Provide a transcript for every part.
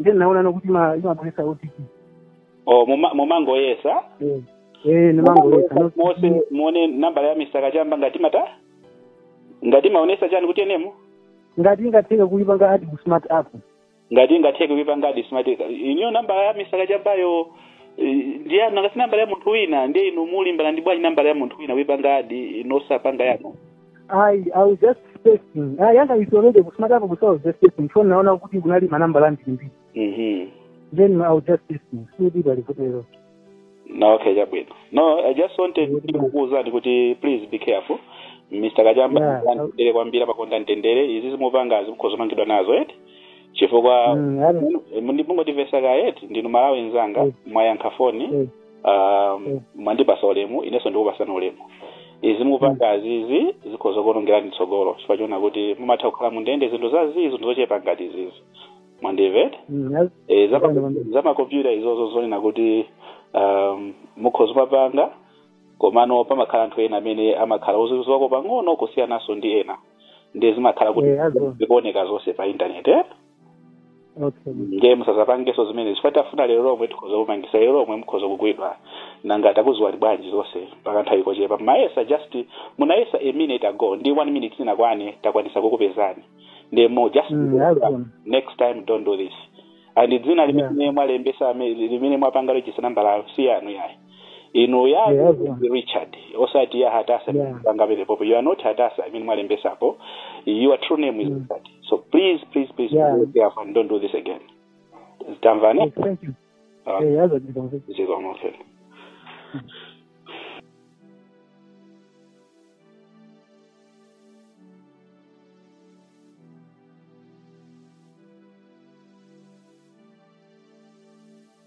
ndiye ndinaona kuti ima- imabweresa otp o muma- mumangoyesa Eh, eh, ndimangoyesa no- mose muone nambala ya mr kachamba ngati mata ngati imaonesa chani kuti enemo ngati ingatheke kuipanga add ku smart app ngati ingatheke kuipanga add smart ineyo nambala ya mr kachambayo eh, ndi yanu ngati nambala ya munthu wina ndiye inu mulimbana nayo bwanji nambala ya munthu wina kuipanga add inu osapanga yanu ayi i was just testing yanga is already ku smart app so i was just testing so naona kuti kunali manambala ambirimbiri Mhm. then i was just testing sikuti palivotero no okay chabwino no i just wanted Yeah. kukuuzani kuti please be careful mr kachamba Yeah. ndandendere kwambiri amakonda mtendere izi zimupangazi mukhoza kumangidwa nazo eti chifukwa Mm, I don't- mungotivesa kaye eti ndinu mmalawi nzanga Yes. mwayankha foni Yes. um, Mm. mwandipasa ulemu inenso ndikupasani ulemu izi mupangazi izi zikhoza kuonongerani tsogolo chifukwa choona kuti mumatha kukhala mundende zinthu za zii zinthu zochepa ngati izizi mwandimva eti Mm, az- e, za Ndipanga ma- za makompyuta izozo nzoona kuti um, mukhoza kumapanga komano pamakhala anthu ena amene amakhala oziwako pang'ono kusiyananso ndi ena ndiye zimakhala kuti Eh, azo. zikuoneka zonse pa intaneti eh? okay ndiye musazapangeso zimene chifukwa titafuna lero lomwe tikhoza kukumangisa lero lomwe mukhoza kugwidwa nanga takuziwani bwanji zonse mpaka nthawi kochepa mwayesa just munayesa a minute ago ndi one minute sinakwane takwanisa kukupezani ndiye just Mm, alright. next time don't do this and dzina limene mwalembesa ame- limene mwapanga register numberyo si yanu yayi inu ya Yeah, yeah. richard osati ya hatasa Yeah. panga penepopo you are not hatasa imene mwalembesapo your true name is Mm. richard so please please please Yeah. be careful and don't do this again tamvane Yes, thank you. Ah. Eh, yazo ndikonze. zikomo okay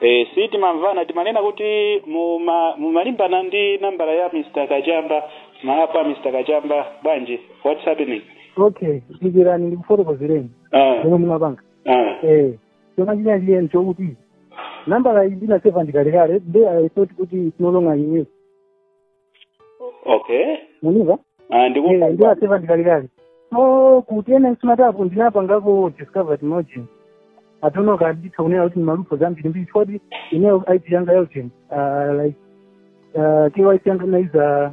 Eh, si timamvana timanena kuti muma- mumalimbana ndi nambala ya mr kachamba mmawa pa mr kachamba bwanji what's happening okay dikirani ndikufotokozereni Ah, zomwe ndimapanga ah. eh chomwe chinali chiyeni chokuti nambala iyi ndinaseva kalekale nde i thought kuti it's no longer in use okay mundimva Ah, ndi Yeah, ndinaseva kalekale so kuti ine smart app ndinapangako discovered margin atono kanditha kunena kuti malupo zambirimbiri choti ineyo ip yanga yautin like uh, kyc yanga naiza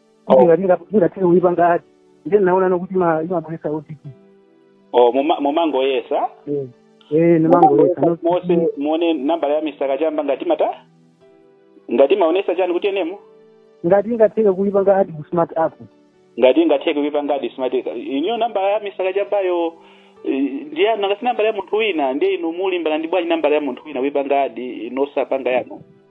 Oh. kuti ngati ndinga- ndingathe kuipanga add nde ndinaona kuti ima- imabweresa otp o muma- mumangoyesa Eh, eh, ndimangoyesa no- mose muone nambala ya mr kachamba ngati mata ngati imaonesa chani kuti enemo ngati ingatheke kuipanga add ku smart app ngati ingatheke kuipanga add smart ineyo nambala ya mr kachambayo ndi yanu ngati nambala ya munthu wina ndiye inu mulimbana nayo bwanji nambala ya munthu wina kuipanga add inu osapanga yanu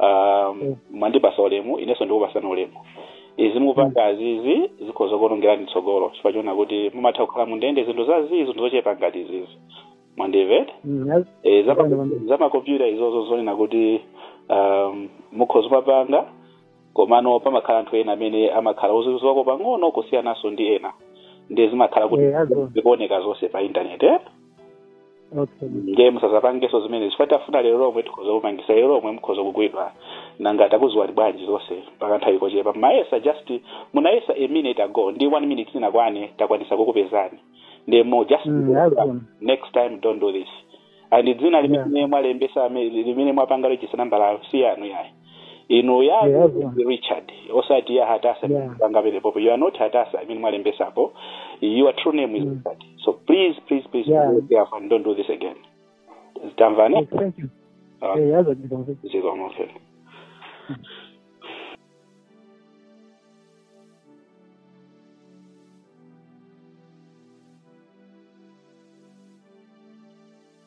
um, mwandipasa ulemu inenso ndikupasani ulemu izi mukupanga zazizi zikhoza kuonongerani tsogolo chifukwa chonena kuti mumatha kukhala mundende zinthu zazizi zinthu zochepa ngati izizi mwandimvetsa Mm, az- Eh, zama- Bwana, bwana. zamakompyuta izozo zonena kuti um, mukhoza kumapanga komano pamakhala anthu ena amene amakhala ozizwako pang'ono kusiyananso ndi ena ndiye zimakhala kuti Eh, azo. zikuoneka zonse pa intaneti eh? okay ndiye musazapangenso zimenezi chifukwa titafuna lero lomwe tikhoza kukumangisani lero lomwe mukhoza kugwidwa nanga takuziwani bwanji zonse pakanthawi kochepa mwayesa just munayesa a minute ago ndi one minute sinakwane takwanisa kukupezani ndiye mmmh just Mm, azona. next time don't do this and dzina limene mwalembesa ame- limene mwapanga register nambala si yanu yayi inu ya Yeah, yeah. richard osati ya hatasa Yeah. panga penepopo you are not hatasa imene mwalembesapo your true name is Mm. richard so please please please Yeah. be careful and don't do this again tamvana Yes, thank you. Ah. Eh, yaza ndikamve. zikomo okay.